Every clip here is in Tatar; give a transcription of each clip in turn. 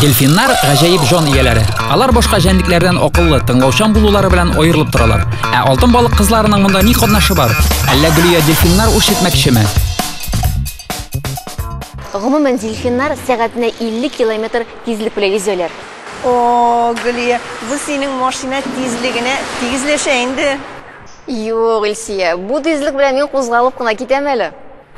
Дельфиннар гаҗәеп җан ияләре. Алар башка җәнлекләрдән акыллы, тыңлаучан булулары белән аерылып торалар. Ә алтын балык кызларының монда ни катнашы бар? Әллә Гөлия дельфиннар үрчетмәкчеме? Гомумән, дельфиннар сәгатенә 50 километр тизлек белән йөзәләр. О, Гөлия, бу синең машина тизлегенә тигезләшә инде. Юк, Илсия, бу тизлек белән мин кузгалып кына китәм әле.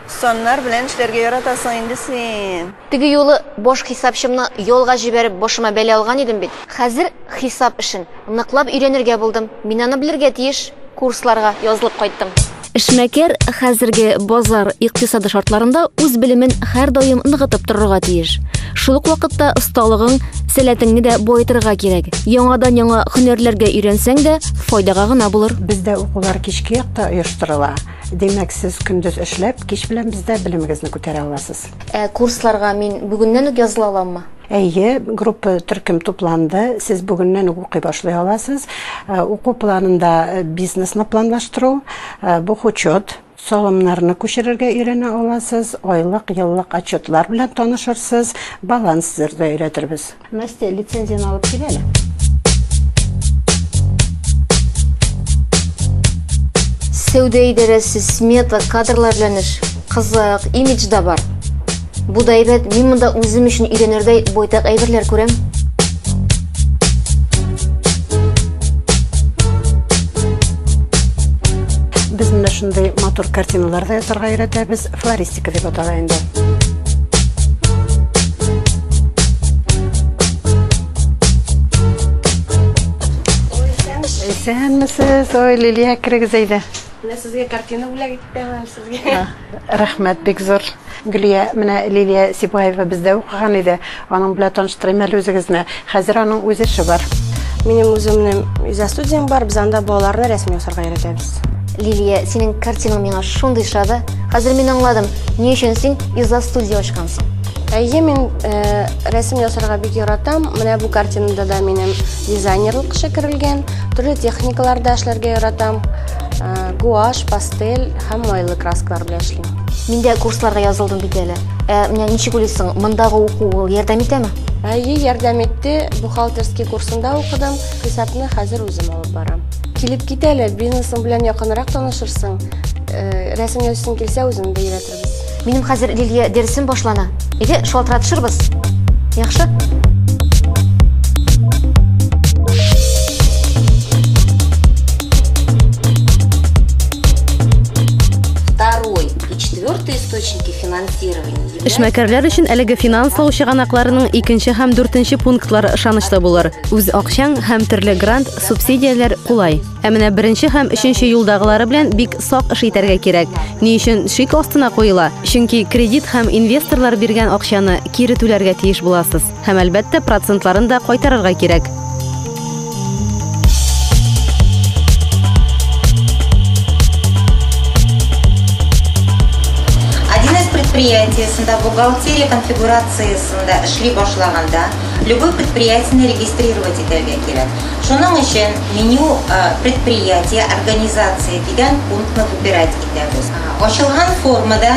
Саннар белән эшләргә яратасың инде син. Теге юлы баш хисапчымны ялга җибәреп башыма бәла алган идем бит. Хәзер хисап эшен ныклап өйрәнергә булдым. Мин аны белергә тиеш. Курсларга язылып кайттым. Эшмәкәр хәзерге базар икътисады шартларында үз белемен һәрдаим ныгытып торырга тиеш. Шул ук вакытта осталыгың, сәләтеңне дә баетырга кирәк. Яңадан-яңа һөнәрләргә өйрәнсәң дә, файдага гына булыр. Бездә укулар кичке якта оештырыла. Димәк, сез көндез эшләп, кич белән бездә белемегезне күтәрә аласыз. Ә курсларга мин бүгеннән үк языла аламмы? Әйе, группа төркем тупланды, сез бүгеннән үк укый башлый аласыз. Уку планында бизнесны планлаштыру, бухучет, салымнарны күчерергә өйрәнә аласыз, айлык, еллык отчетлар белән танышырсыз, баланс төзергә өйрәтербез. Настя, лицензияне алып кил әле. Сәүдә идарәсе, смета, кадрлар белән эш. Кызык, имидж да бар. Бу да әйбәт, мин монда үзем өчен өйрәнердәй байтак әйберләр күрәм. Без менә шундый матур картиналар да ясарга өйрәтәбез. Флорист Ике дип атала инде. Исәнмесез, ой, Лилия, керегез әйдә. Менә сезгә картина бүләк иттем сезгә. Рәхмәт бик зур. Гөлия, менә Лилия Сибаева бездә укыган иде. Аның белән таныштырыйм әле үзегезне. Хәзер аның үз эше бар. Минем үземнең иза студиям бар, без анда балаларны рәсем ясарга өйрәтәбез. Лилия, синең картинаң миңа шундый ошады. Хәзер мин аңладым, ни өчен син иза студия ачкансың. Әйе, мин э, рәсем ясарга бик яратам. Менә бу картинада да минем дизайнерлык эше керелгән. Төрле техникаларда эшләргә яратам. Э, гуаш, пастель һәм майлы краскалар белән эшлим. Мин дә курсларга язылдым бит әле. Ә менә ничек уйлыйсың, мондагы уку ул ярдәм итәме? Әйе, ярдәм итте. Бухгалтерский курсында укыдым. Хисапны хәзер үзем алып барам. Килеп кит әле, бизнесың белән якынрак танышырсың. Э, Рәсемгә өстен килсә, үзем дә өйрәтербез. Минем хәзер Лилия дәресем башлана. Әйдә, шалтыратышырбыз. Яхшы? Четвертый источники финансирования являются... Эшмәкәрләр өчен әлеге финанслау чыганакларының икенче һәм дүртенче пунктлары ышанычлы булыр. Үз акчаң һәм төрле грант, субсидияләр кулай. Ә менә беренче һәм өченче юлдагылары белән бик сак эш итәргә кирәк. Ни өчен шик астына куела? Чөнки кредит һәм инвесторлар биргән акчаны кире түләргә тиеш буласыз. Һәм, әлбәттә, процентларын да кайтарырга кирәк. предприятиесында бухгалтерия конфигурациясендә эшли башлаганда любой предприятияне регистрировать итәргә кирәк. Шуның өчен меню э, предприятие, организация дигән пунктны выбирать итәбез. Ачылган формада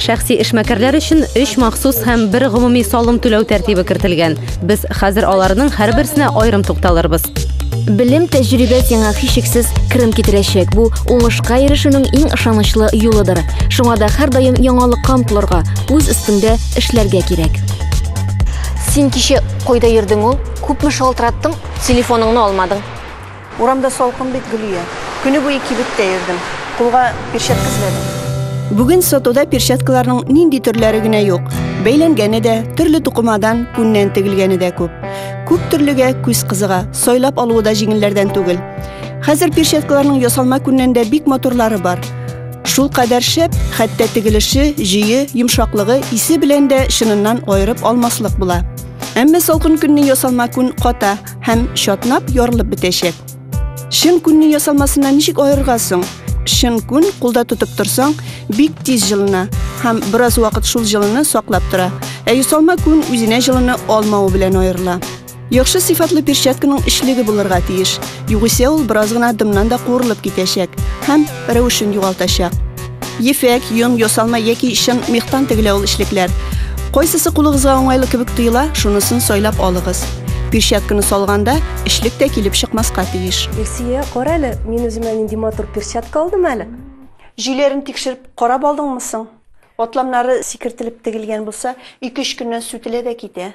Шәхси эшмәкәрләр өчен өч махсус һәм бер гомуми салым түләү тәртибе кертелгән. Без хәзер аларның һәрберсенә аерым тукталырбыз. Белем, тәҗрибә сиңа һичшиксез керем китерәчәк. Бу уңышка ирешүнең иң ышанычлы юлыдыр. Шуңа да һәрдаим яңалыкка омтылырга, үз өстеңдә эшләргә кирәк. Син кичә кайда йөрдең ул? Күпме шалтыраттым, телефоныңны алмадың. Урамда салкын бит, Гөлия. Көне буе кибеттә йөрдем. Кулга перчатка эзләдем. Бүген сатуда перчаткаларның нинди төрләре генә юк. Бәйләнгәне дә, төрле тукымадан, күннән тегелгәне дә күп. Күп төрлегә күз кызыга, сайлап алуы да җиңелләрдән түгел. Хәзер перчаткаларның ясалма күннән дә бик матурлары бар. Шул кадәр шәп, хәтта тегелеше, җөе, йомшаклыгы, исе белән дә чыныннан аерып алмаслык була. Әмма салкын көнне ясалма күн ката, һәм чатнап ярылып бетәчәк. Чын күнне ясалмасыннан ничек аерырга соң? Чын күн кулда тотып торсаң, бик тиз җылына һәм бераз вакыт шул җылыны саклап тора. Ә ясалма күн үзенә җылыны алмавы белән аерыла. Яхшы сыйфатлы перчатканың эчлеге булырга тиеш. Югыйсә ул бераз гына дымнан да куырылып китәчәк һәм рәвешен югалтачак. Ефәк, йон, ясалма яки чын мехтан тегелә ул эчлекләр. Кайсысы кулыгызга уңайлы кебек тоела, шунысын сайлап алыгыз. Перчатканы салганда, эчлек тә килеп чыкмаска тиеш. Илсия, кара әле, мин үземә нинди матур перчатка алдым әле. Җөйләрен тикшереп карап алдыңмы соң? Атламнары сикертелеп тегелгән булса, ике-өч көннән сүтелә дә китә.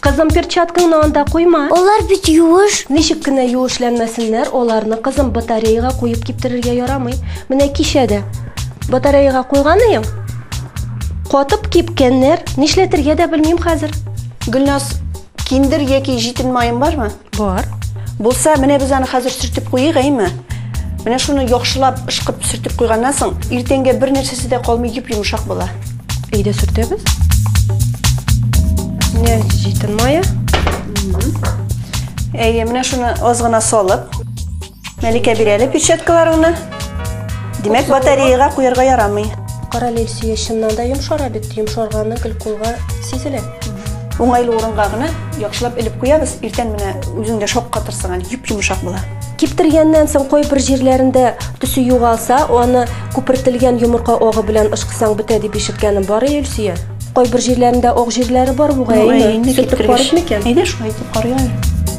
Кызым, перчаткаңны анда куйма. Алар бит юыш. Ничек кенә юышләнмәсеннәр, аларны кызым батареяга куеп киптерергә ярамый. Менә кичә дә батареяга куйган идем. Катып кипкәннәр, нишләтергә дә белмим хәзер. Гөлназ, киндер яки җитен маен бармы? Бар. Булса, менә без аны хәзер сөртеп куйыйк, әйме? Менә шуны яхшылап ышкып сөртеп куйганнан соң, иртәнгә бер нәрсәсе дә калмый йөп йомшак була. Өйдә сөртәбез. Менә җитен мая. Әйе, менә шуны аз гына салып, Мәликә бир әле перчаткаларыңны. Димәк, батареяга куярга ярамый. Кара лельсия чыннан да йомшара бит. Йомшарганы гел кулга сизелә. Уңайлы урынга гына яхшылап элеп куябыз. Иртән менә үзең дә шаккатырсың әле, йоп-йомшак була. Киптергәннән соң кайбер җирләрендә төсе югалса, аны күпертелгән йомырка агы белән ышкысаң бетә дип ишеткәнем бар, әй Өлсия. Кайбер җирләрендә ак җирләре бар бугай, әйе. Сүтеп карыйк микән? Әйдә шулай итеп карыйк әле.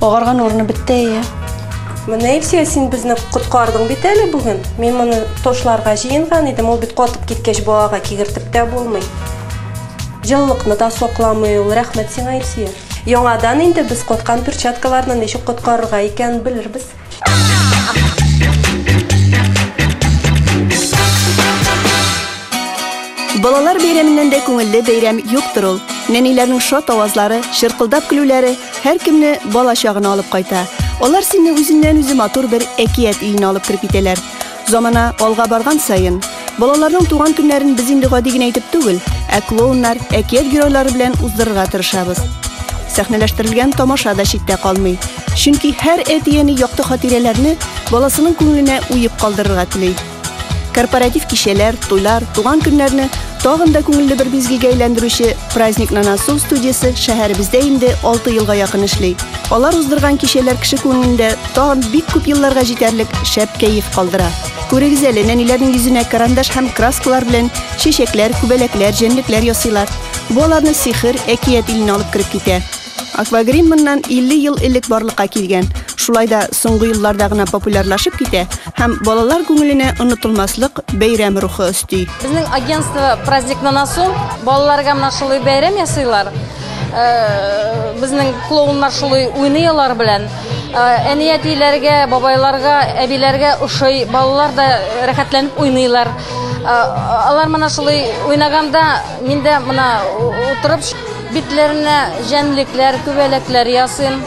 Агарган урыны бетте әйе. Менә Илсөя, син безне коткардың бит әле бүген. Мин моны тошларга җыенган идем, ул бит катып киткәч балага кигертеп тә булмый. Җылылыкны да сакламый ул. Рәхмәт сиңа, Илсөя. Яңадан инде без коткан перчаткаларны ничек коткарырга икәнен белербез. Балалар бәйрәменнән дә күңелле бәйрәм юктыр ул. Нәниләрнең шат авазлары, чыркылдап көлүләре һәр кемне бала чагына алып кайта. Алар сине үзеннән үзе матур бер әкият өенә алып кереп итәләр. Замана алга барган саен, балаларның туган көннәрен без инде гади генә итеп түгел, ә клоуннар, әкият геройлары белән уздырырга тырышабыз. Сәхнәләштерелгән тамаша да читтә калмый. Чөнки һәр әти-әни якты хатирәләрне баласының күңеленә уеп калдырырга тели. Корпоратив кичәләр, туйлар, туган көннәрне тагын да күңелле бер бизгегә әйләндерүче Праздник на носу студиясе шәһәребездә инде 6 елга якын эшли. Алар уздырган кичәләр кеше күңелендә Тагын бик күп елларга җитәрлек шәп кәеф калдыра. Күрегез әле, нәниләрнең йөзенә карандаш һәм краскалар белән чәчәкләр, күбәләкләр, җәнлекләр ясыйлар. Бу аларны сихер, әкият иленә алып кереп китә. Аквагрим моннан 50 ел элек барлыкка килгән. Шулай да соңгы елларда гына популярлашып китә һәм балалар күңеленә онытылмаслык бәйрәм рухы өсти. Безнең агентство Праздник на носу балаларга менә шулай бәйрәм ясыйлар. Э, безнең клоуннар шулай уйный алар белән. Әниятиләргә, бабайларга, әбиләргә ошый. Балалар да рәхәтләнеп уйныйлар. Алар мына шулай уйнаганда, мин дә мына утырып битләренә җәнлекләр, күбәләкләр ясыйм.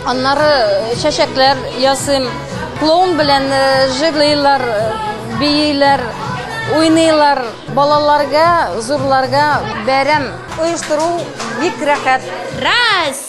Аннары э, чәчәкләр ясыйм. Клоун белән э, җырлыйлар, э, бийләр, уйныйлар. Балаларга, зурларга бәрәм. Оештыру бик рәхәт. Раз!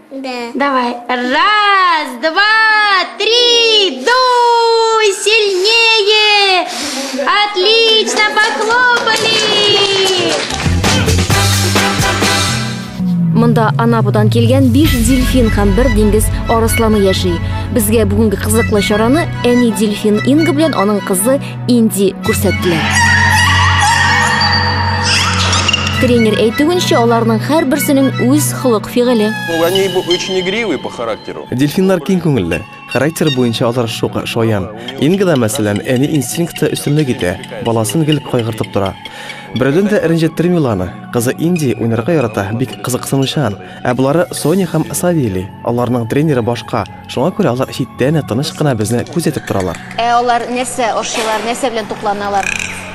Да. Давай. Раз, два, три, дуй сильнее. Отлично, похлопали. Монда Анапудан килгән 5 дельфин һәм бер диңгез арысланы яши. Безгә бүгенге кызыклы чараны әни дельфин Инга белән аның кызы Инди күрсәттеләр. Тренер әйтүенчә, аларның һәрберсенең үз холык фигыле. Они очень игривые по характеру. Дельфиннар киң күңелле. Характер буенча алар шук, шаян. Ингада, мәсәлән, әни инстинкты өстенлек итә, баласын гел кайгыртып тора. Берәүдән дә рәнҗеттерми ул аны. Кызы Инди уйнарга ярата, бик кызыксынучан. Ә болары Соня һәм Савелий. Аларның тренеры башка. Шуңа күрә алар читтән дә тыныч кына безне күзәтеп торалар. Ә алар нәрсә ашыйлар, нәрсә белән тукланалар?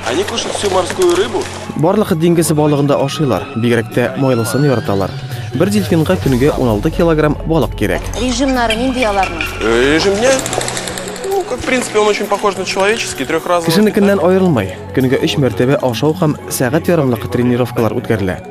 Они кушают всю морскую рыбу. Барлык диңгез балыгын да ашыйлар, бигрәк тә майлысын яраталар. Бер дельфинга көнгә 16 килограмм балык кирәк. Режимнары нинди аларның? Э, режим дня? Ну, как, в принципе, он очень похож на человеческий, трехразовый. Кешенекеннән аерылмый. Көнгә өч мәртәбә ашау һәм сәгать ярымлык тренировкалар үткәрелә.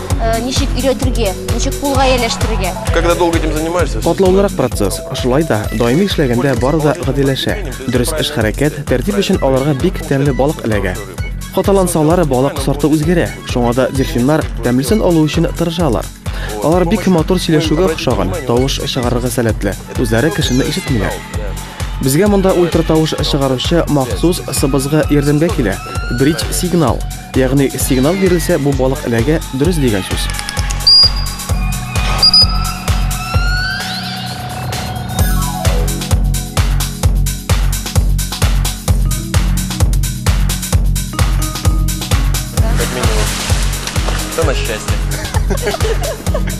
Э, ничек өйрәтергә, ничек кулга ияләштерергә. Когда долго этим занимаешься? Катлаулырак процесс. Шулай да даими эшләгәндә бары да гадиләшә. Дөрес эш хәрәкәт, тәртип өчен аларга бик тәмле балык эләгә. Каталансалар балык сорты үзгәрә. Шуңа да дельфиннар тәмлесен алу өчен тырышалар. Алар бик матур сөйләшүгә охшаган, тавыш чыгарырга сәләтле. Үзләре кешене ишетмиләр. Безгә монда ультратавыш чыгаручы махсус сыбызгы ярдәмгә килә. Бридж сигнал. Ягъни сигнал бирелсә, бу балык эләгә, дөрес дигән сүз. Как минимум. Что на счастье?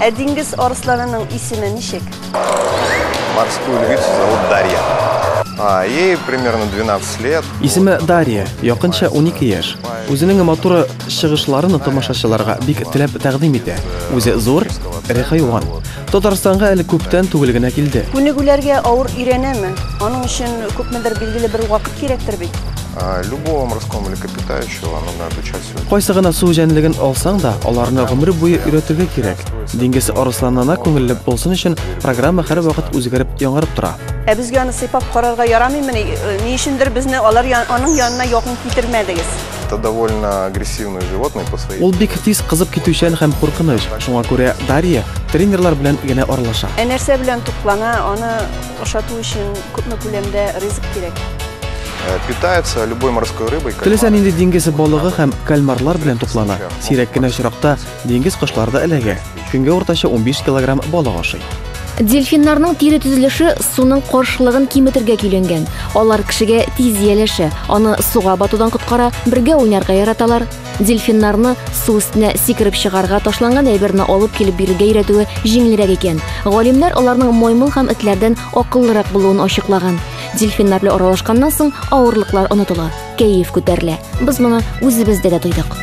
Ә диңгез арысланының исеме ничек? Морскую львицу зовут Дарья. А, ей примерно 12 лет. Исеме Дарья, якынча 12 яшь. Үзенең матур чыгышларын тамашачыларга бик теләп тәкъдим итә. Үзе зур, эре хайван. Татарстанга әле күптән түгел генә килде. Күнегүләргә авыр өйрәнәме? Аның өчен күпмедер билгеле бер вакыт кирәктер бит. А, любого морского млекопитающего нужно обучать Кайсы гына су җәнлеген алсаң да, аларны гомер буе өйрәтергә кирәк. Диңгез арысланына күңелле булсын өчен программа һәрвакыт үзгәреп, яңарып тора. Ә безгә аны сыйпап карарга ярамыймыни? Э, ни өчендер безне алар аның янына якын китермәдегез. Это довольно агрессивное животное по своей. Ул бик тиз кызып китүчән һәм куркыныч. Шуңа күрә Дарья тренерлар белән генә аралаша. Ә нәрсә белән туклана? Аны Ашату өчен күпме күләмдә ризык кирәк? Питается любой морской рыбой. Теләсә нинди диңгез балыгы һәм кальмарлар белән туклана. Сирәк кенә очракта диңгез кошлары да эләгә. Көнгә уртача 15 килограмм балык ашый. Дельфиннарның тире төзелеше суның каршылыгын киметергә көйләнгән. Алар кешегә тиз ияләшә, аны суга батудан коткара, бергә уйнарга яраталар. Дельфиннарны су өстенә сикереп чыгарга, ташланган әйберне алып килеп бирергә өйрәтүе җиңелрәк икән. Галимнәр аларның маймыл һәм этләрдән акыллырак булуын ачыклаган. Дельфиннар белән аралашканнан соң авырлыклар онытыла, кәеф күтәрелә. Без моны үзебездә дә тойдык.